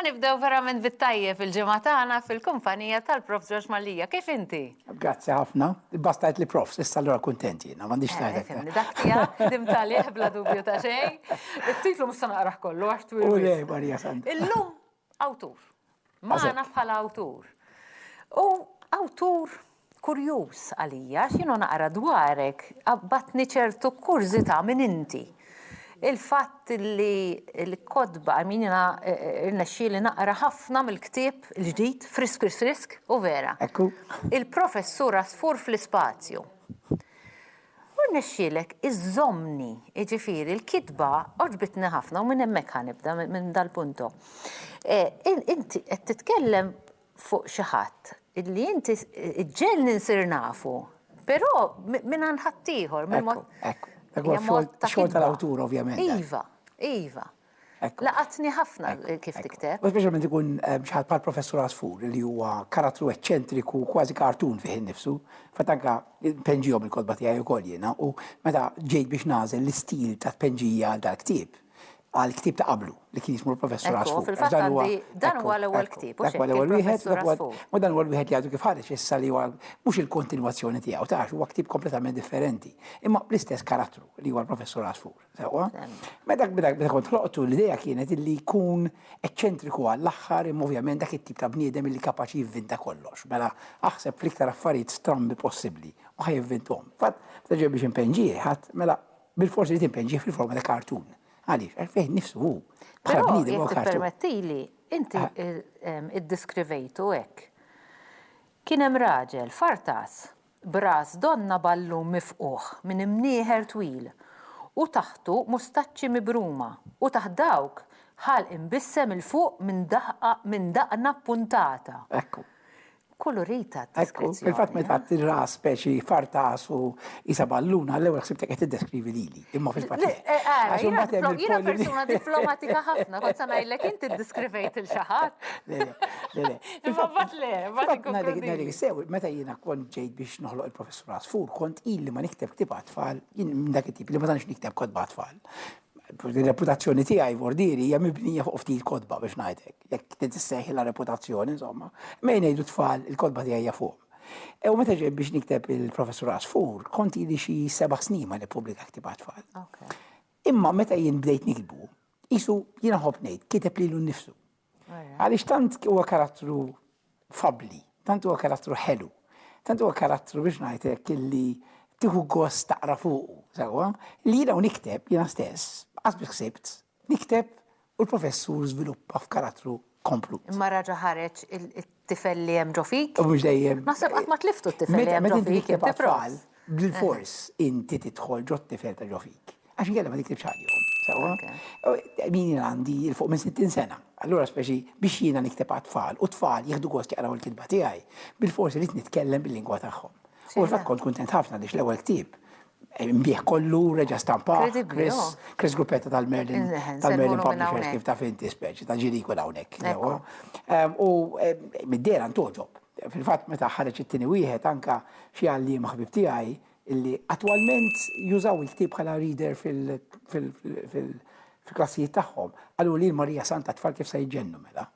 nibdew verament bit-tajjeb il-ġimgħa tagħna fil-kumpanija tal-Prof George Mallia. Kif inti? Grazzi ħafna. Bastajt li prof, issa allura kuntent jiena, m'għandix eh, tajtek. Dak tiegħek dim talih bla dubju ta' xejn. It-titlu mhux se naqrah kollu għax twil. Marija Santa. Illum Awtur. Magħna bħala awtur. U awtur kurjuż għalija, x'jienu naqra dwarek, għabbatni ċertu kurżità minn inti. Il-fatt li l-kodba, għamin jina eh, rnexxi li naqra ħafna mill-ktib l-ġdid, frisk, frisk, frisk, u vera. Il-professur asfur fl-ispazju. U rnexxielek iżżommni, jiġifieri l-kitba għoġbitni ħafna u minn hemmhekk ħa nibda, minn dal-punto. Inti qed titkellem fuq xi ħadd illi inti ġġegħelni nsir nafu, però mingħand ħaddieħor, minn mod ta' kitba. Ekku, ekku. Huwa x-xogħol tal-awtur ovvjament dan. Iva, iva. Laqatni ħafna kif tikteb. U speċjalment ikun xi ħadd bħall-Professur Għasfur li huwa karattru eċċentriku kważi cartoon fih innifsu. Fatt anke npenġihom il-kotba tiegħi wkoll jiena u meta ġejt biex nagħżel l-istil ta' tpenġija għal dal-ktieb, għal ktieb ta' qablu li kien jismu l-Professur Għasfur. Ekku, fil-fatt għandi dan huwa l-ewwel ktieb. Dak huwa l-ewwel wieħed, u dan huwa l-wieħed li għadu kif ħareġ issa li huwa mhux il-kontinwazzjoni tiegħu, tarax huwa ktieb kompletament differenti, imma bl-istess karattru li huwa l-Professur Għasfur. Sewa. Meta meta kont ħloqtu l-idea kienet illi jkun eċċentriku għall-aħħar imma ovvjament dak it-tip ta' bniedem illi kapaċi jivvinta kollox. Mela aħseb fl-iktar affarijiet strambi possibbli u ħa jivvinthom. Fatt, meta ġej biex impenġih ħadd, mela bilfors irid impenġih fil-forma ta' cartoon. Għaliex? Għax fih nnifsu hu. Bħala bniedem huwa cartoon. Però jekk tippermettili, inti iddiskrivejtu hekk. Kien hemm raġel fartas b'ras donna ballun mifqugħ minn imnieħer twil u taħtu mustaċċi mibruma, u taħt dawk ħalq imbissem 'il fuq minn daħqa minn daqna ppuntata. Ekku. Kkulurita d-deskrizzjoni. Ekku, fil-fatt meta għedt ir-ras speċi fartas u qisha balluna, l-ewwel ħsibtek qed tiddeskrivi lili. Imma fil-fatt. Jiena persuna diplomatika ħafna, kont sa ngħidlek inti ddiskrivejt il xi ħadd. Imma mbagħad le, mbagħad sew, meta jiena kont ġejt biex noħloq il-professur Asfur, kont ili ma nikteb ktieb tfal, jien minn dak it-tip li ma tantx nikteb kodba tfal. Il-reputazzjoni tiegħi vordieri hija mibnija fuq ftit kodba biex ngħidlek. Jekk titissejħilha reputazzjoni, insomma, ma jgħidu tfal il-kodba tiegħi fuq. E u meta ġej biex nikteb il-professur Asfur, kont li xi seba' snin ma nippubblika ktib għatfall. Imma meta jien bdejt nikbu, jisu jiena ħobb ngħid kiteb lilu nnifsu. Għaliex tant huwa karattru fabli, tant huwa karattru ħelu, tant huwa karattru biex ngħidlek illi tieħu gost taqra fuqu, sewwa, li jiena u nikteb jiena stess, qas biss ħsibt, Nikteb u l-professur żviluppa f'karattru komplut. Imma raġa ħareġ it-tifel li hemm ġo fik? U mhux dejjem. Naħseb qatt ma tliftu t-tifel li hemm ġo fik. Meta tfal, bil-fors inti tidħol ġo t-tifel ta' ġo fik. Għax inkella ma tiktibx għalihom. Min jien għandi il fuq minn 60 sena. Allura speċi biex jiena nikteb għat-tfal u t-tfal jieħdu gost jaqraw il-kitba tiegħi, bil-fors irid nitkellem bil-lingwa tagħhom. U fil-fatt kont kuntent ħafna għaliex l-ewwel ktieb Bih kollu reġa' stampa Chris Gruppetta tal-Merlin tal-Merlin Publishers kif taf inti speċi ta' ġiri jkun hawnhekk. U mid-dera ntoġob. Fil-fatt meta ħareġ it-tieni wieħed anke xi għalliem ħbieb tiegħi li attwalment jużaw il-ktieb bħala reader fil fil-klassijiet tagħhom, qalu lil Marija Santa tfal kif se jġennu mela.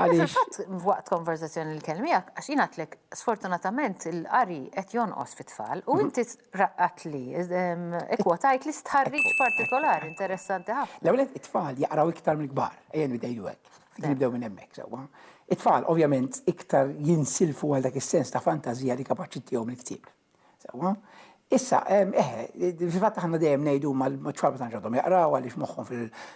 Għaliex. Fatt waqt konverzazzjoni li kelmi miegħek għax jingħatlek sfortunatament il-qari qed jonqos fit-tfal u mhm. inti raqqat li ehm, ikkwotajt li stħarriġ partikolari interessanti ħafna. L-ewwel it-tfal jaqraw iktar mill-kbar, ejja nibdejlu hekk. Nibdew minn hemmhekk sewwa. It-tfal ovvjament iktar jinsilfu għal dak is-sens ta' fantażija li kapaċi tiegħu mill-ktieb. Sewwa? Issa, eħe, fil-fatt aħna dejjem ngħidu ma ċfalba ta' ġodhom jaqraw għaliex moħħhom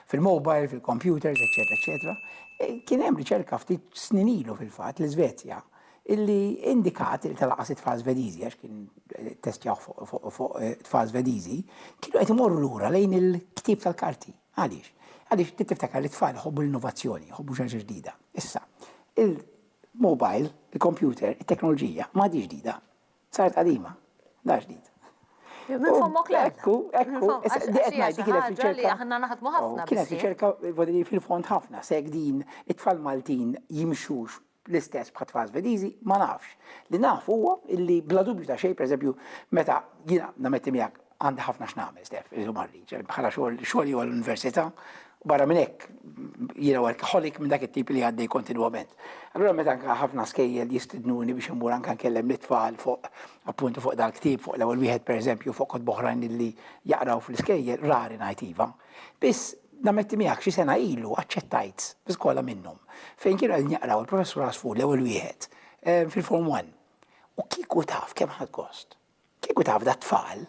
fil-mobile, fil-computers, eċetera, eċetera. E, kien hemm riċerka ftit snin ilu fil-fatt l-Iżvezja illi indikat il tal-qas it-tfal Svediżi għax kien eh, testjaw fuq eh, tfal Svediżi, kienu qed imorru lura lejn il-ktib tal-karti. Għaliex? Għaliex ti tiftakar li tfal jħobbu l-innovazzjoni, jħobbu xi ġdida. Issa, il-mobile, il-computer, it-teknoloġija ma ġdida, Saret qadima, da ġdid. Minn fommok le. Ekku, ekku, għetnajt kienet riċerka. Aħna naħdmu ħafna. Oh, kienet riċerka fil-fond ħafna, seg din it-tfal Maltin jimxux l-istess bħat tfal Svedizi, ma nafx. Li nafu huwa illi bla dubju ta' xej, per eżempju, meta jina nametti miegħek Għandi ħafna x'nagħmel, Stef, illum għarriġ, bħala xogħol, xogħol huwa l-università, u barra minn hekk jiena workaholic minn dak it-tip li għaddej kontinwament. Allura meta anke ħafna skejjel jistidnuni biex immur anke nkellem lit-tfal fuq appuntu fuq dal-ktieb, fuq l-ewwel wieħed pereżempju fuq kotb oħrajn li jaqraw fl-iskejjel, rari ngħid iva. Biss nammetti miegħek xi sena ilu aċċettajt bi skola minnhom fejn kienu qegħdin jaqraw il-Professur Asfur l-ewwel wieħed eh, fil-Form 1. U kieku taf kemm ħadd gost. Kieku taf dat-tfal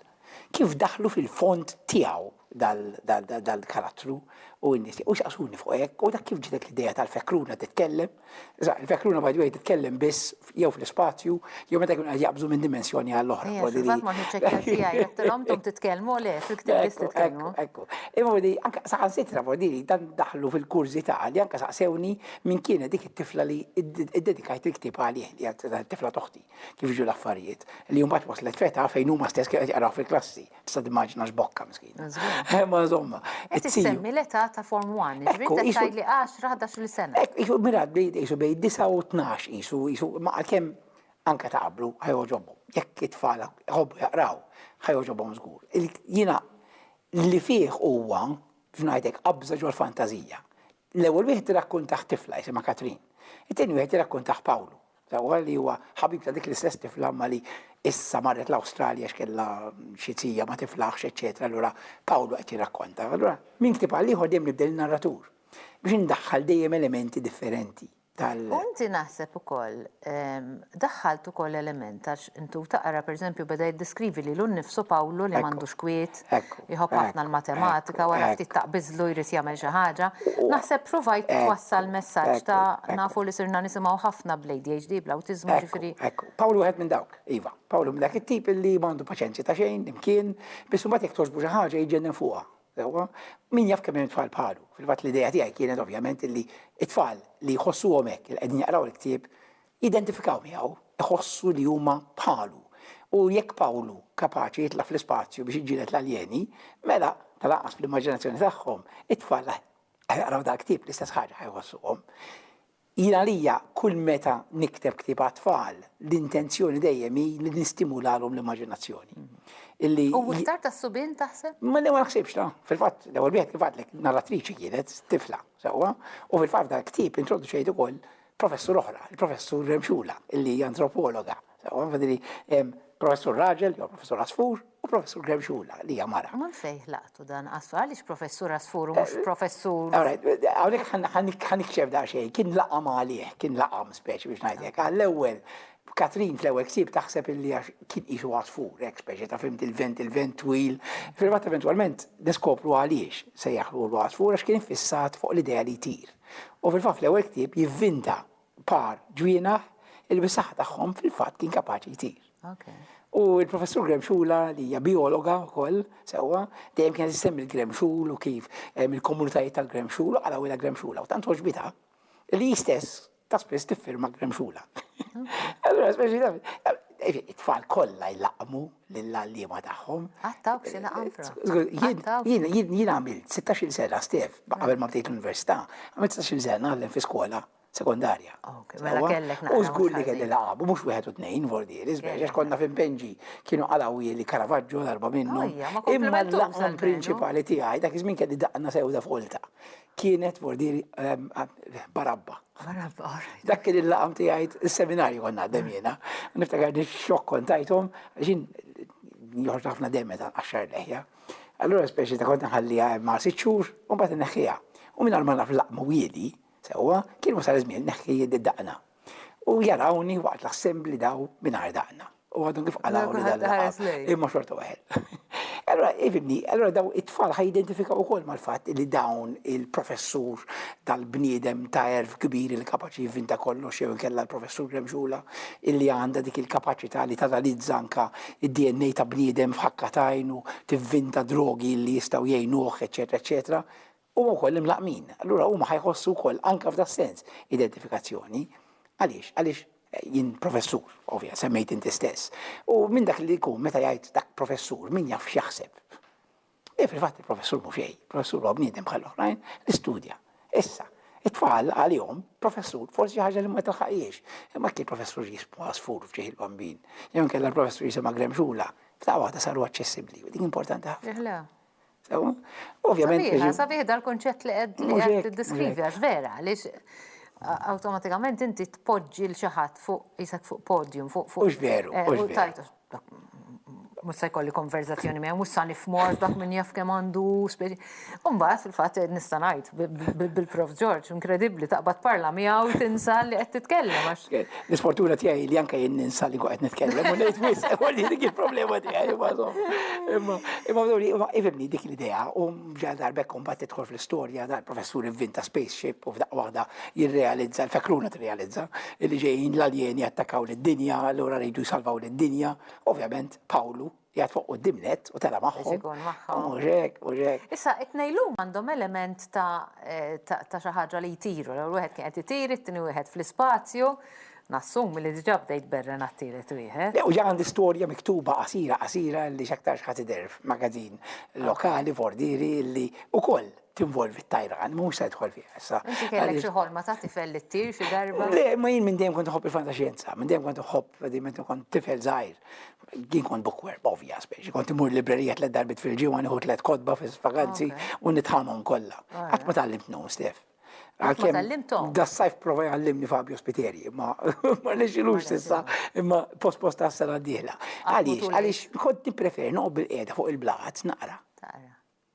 kif daħlu fil-fond tiegħu dal-karattru u n-nies u jsaqsuni fuq hekk u dak kif ġietek l-idea tal-fekruna titkellem. Sa, il-fekruna by the way titkellem biss jew fl-ispazju jew meta jkunu qed jaqbżu minn dimensjoni għal oħra. Ejja, fil-fatt ma kienx hekk kelb tiegħi, għedtilhom intom titkellmu, le, fil-ktieb biss titkellmu. Ekku, ekku. Imma vedi, anke saħansitra vedi li dan daħlu fil-kurżità li anke saqsewni min kienet dik it-tifla li ddedikajt il-ktieb għalih, li hija t-tifla t'oħti. Kif ġew l-affarijiet li mbagħad waslet feta fejn huma stess kien qed jaqraw fil-klassi. Tista' timmaġina x'bokka miskina. Eh, ma żomma. Qed issemmi l-età ta' Form 1, ġifieri qed tgħid li 10 11 sena. Hekk isu mira bdejt isu bejn 9 u 12 isu isu ma għalkemm anke ta' qablu ħajoġobhom. Jekk it-tfal jħobbu jaqraw, ħajoġobhom żgur. Jiena li fih huwa f'ngħidek qabża ġol-fantażija. L-ewwel wieħed irrakkuntah tifla jisimha Katrin. It-tieni wieħed irrakkuntah Pawlu. Wara li huwa ħabib ta' dik l-istess tifla imma li issa marret l-Awstralja għax kellha xi tija ma tiflaħx, eċċetera, allura Pawlu qed jirrakkonta. Allura minn ktieb għal ieħor dejjem nibdel in-narratur biex indaħħal dejjem elementi differenti tal. U inti naħseb ukoll daħħalt ukoll element għax Intu taqra, pereżempju, beda jiddeskrivi lilu nnifsu Pawlu li m'għandux kwiet, jħobb ħafna l-matematika, wara ftit taqbiżlu jrid jagħmel xi ħaġa. Naħseb provajt twassal messaġġ ta' nafu li sirna nisimgħu ħafna bl-ADHD, bl-awtiżmu, jiġifieri. Pawlu wieħed minn dawk, iva. Pawlu minn dak it-tip li ma għandu paċenzja ta' xejn, imkien, biss imbagħad jekk togħġbu xi ħaġa jiġġennen fuqha. Sewwa? Min jaf kemm hemm tfal bħalu. Fil-fatt l-idea tiegħi kienet ovvjament li t-tfal li jħossuhom hekk, li qegħdin jaqraw il-ktieb, jidentifikaw miegħu, iħossu li huma bħalu. U jekk Pawlu kapaċi jitla' fl-ispazju biex iġġieled l-aljeni, mela, tal-anqas fl-immaġinazzjoni tagħhom, it-tfal li ħajaqraw dal-ktieb l-istess ħaġa ħajħossuhom. Jien għalija kull meta nikteb ktieb għat-tfal, l-intenzjoni dejjem hi li nistimulalhom l-immaġinazzjoni. Illi U iktar tas-subien taħseb? Ma le ma naħsibx ta. Fil-fatt, l-ewwel wieħed kif għadlek narratriċi kienet tifla, sewwa, u fil-fatt dal-ktieb introduċejt ukoll Professur oħra, il-professur Remxula, illi hija antropologa. Għadri, professur Raġel, jew professur Asfur, u professur Remxula, li hija mara. Ma fejh laqtu dan, għassu, għaliex professur Asfur u mhux eh, professur. Għawnek ħanik ċef da xej, kien laqam għalih, kien laqam speċi biex najdek, għall-ewel Katrin fl-ewwel ksib taħseb illi għax kien isu għasfur, hekk speċi ta' fimt il-vent, il-vent twil. Fil-fatt eventwalment niskopru għaliex se jaħlu l-għasfur għax kien fissat fuq l-idea li jtir. U fil-fatt l-ewwel ktieb jivvinta par ġwienaħ li bis-saħħa tagħhom fil-fatt kien kapaċi jtir. U l-professur Graham Xula li hija biologa wkoll sewwa dejjem kienet issemmi l-Graham Xul u kif eh, il-komunitajiet tal-Graham Xul u qalawilha Graham Xula u tant oġbitha li jistess ta' spiss tiffirma Graham Xula. Allura speċi eh, it-tfal kollha jlaqmu lill-għalliema tagħhom. Għattawk xi naqam fra. Jien għamilt 16-il sena stef qabel ma bdejt l-università, għamilt 16-il sena naħdem fi skola sekondarja. Mela kellek naqra. U żgur li kelli laqab, mhux wieħed u tnejn vordieri, żbiex għax konna fin Benġi kienu qalawwi li Caravaggio darba minnu. Imma l-laqam prinċipali tiegħi dak iż-żmien kelli daqna sewda folta. Kienet vordieri ehm, barabba. Dak kien il-laqam tiegħi is-seminarju konna għaddem jiena. Niftakar li xokk kontajthom għaxin joħroġ ħafna dejjem meta nqaxxar leħja. Allura speċi ta' kont nħalliha ma' sitt xhur u mbagħad inneħħiha. U minn ma naf laqmu wieli sewwa kien wasal iż-żmien neħħi id-daqna. U jarawni waqt l-assembli daw mingħajr daqna. U għadhom kif għalaw li dan imma xorta waħed. Allora, ifimni, allora daw it-tfal ħajidentifikaw ukoll mal-fatt li dawn il-professur tal-bniedem ta' erf kbir il kapaċi jivvinta kollox jew inkella l-professur remxula illi għandha dik il-kapaċità li tanalizza anka id-DNA ta' bniedem f'ħakka tajnu, tivvinta drogi li jistgħu jgħinuh, eċetera, eċetera. Huma wkoll imlaqqmin, allura huma ħa jħossu wkoll anke f'das-sens identifikazzjoni. Għaliex? Għaliex jien professur, ovvja, semmejt inti stess. U minn dak li jkun meta jgħid dak professur, min jaf x'jaħseb. E fil-fatt il-professur mhu xejn, professur huwa bniedem bħal oħrajn li studja. Issa, it-tfal għalihom professur forsi ħaġa li ma tilħaqhiex. Imma kien professur jismu għasfur f'ġieħ il-bambin. Jew inkella l-professur jisimha gremxula. F'daqqa waħda saru aċċessibbli. Din importanti ħafna. Sewa? Ovvjament. Sabiħ, sabiħ dal-konċett li qed li qed tiddeskrivi għax vera, għaliex awtomatikament inti tpoġġi l xi ħadd fuq isek fuq podium, fuq fuq. Mhux veru, eh, mhux veru. Mhux se jkolli konverzazzjoni miegħu, mhux sa nifmor dak minn jaf kemm għandu speċi. Umbagħad fil-fatt eh, nista' ngħid bil-Prof George, inkredibbli taqbad parla miegħu tinsa li qed titkellem għax. L-isfortuna tiegħi li anke jien ninsa li qed nitkellem u ngħid wisq u li dik il-problema tiegħi imma imma imma imma ifimni dik l-idea u ġal darbek imbagħad tidħol fl-istorja dal-professur inventa spaceship u f'daqqa waħda jirrealizza l-fekruna tirrealizza li ġejjin l-aljeni attakkaw lid-dinja allura rridu jsalvaw lid-dinja. Ovvjament Pawlu jgħat fuq u dimnet u tela maħħom. U ġek, u ġek. Issa, it-nejlu mandom element ta' eh, xaħġa li jtiru, l wieħed kien qed itir, it-tini wieħed fl-ispazju, nassum li diġa bdejt berren għattiret wieħed. U ġa għandi storja miktuba qasira qasira li xaktar xħati derf magazin lokali vordiri li u koll tinvolvi t-tajran, mu se tħol fi issa. Inti kellek xi ħolma ta' tifel li ttir xi darba? Le, ma jien minn dejjem kont ħobb il-fantaxjenza, minn dejjem kont ħobb dejjem kont tifel żgħir. Din kont bookworm, obvious, biex kont imur librerija tlet darbit fil-ġimgħa nieħu tlet kodba fil-vaganzi u nitħamhom kollha. Qatt ma tallimt num, Stef. Għalkemm da sajf prova jgħallimni Fabio Spiteri, ma ma nexilux sissa, imma post post tas-sena d-dieħla. Għaliex, għaliex kont nippreferi noqgħod bil-qiegħda fuq il-blat naqra.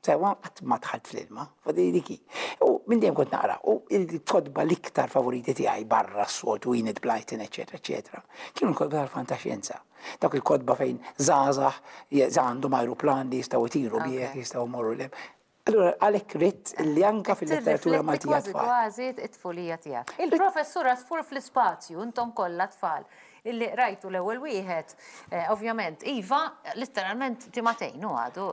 Sewwa qatt ma dħalt fl-ilma, u di dik hi. U minn dejjem kont naqra, u l-kotba l-iktar favoriti tiegħi barra s-soltu Enid Blyton, eċċetera, eċċetera, kienu l-kotba tal-fantaxjenza. Dawk il-kotba fejn żgħażagħ għandhom ajruplan li jistgħu jtiru bih, jistgħu jmorru 'l hemm. Allura għalhekk ridt li anke fil-letteratura Maltija għat-tfal. Qed tirrifletti kważi kważi t-tfulija tiegħek. Il-Professur Għasfur fl-ispazju, intom kollha tfal, Illi qrajtu l-ewwel wieħed, ovvjament, iva, litteralment ġimagħtejn hu għadu.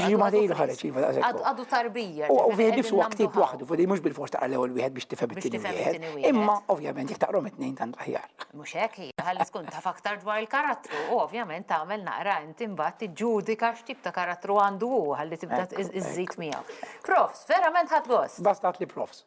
Ġimagħtejn ilu ħareġ, iva, daqshekk hu. Għadu tarbija. Huwa wieħed biss, huwa ktieb waħdu, ġifieri mhux bilfors taqra l-ewwel wieħed biex tifhem it-tieni wieħed. Imma, ovvjament, jekk taqrahom it-tnejn tant l-aħjar. Mhux hekk hi, ħalli tkun taf aktar dwar il-karattru u, ovvjament, tagħmel naqra int imbagħad tiġġudika x'tip ta' karattru għandu hu ħalli tibda żżid miegħu. Profs, verament ħadt gost. Basta għidli profs.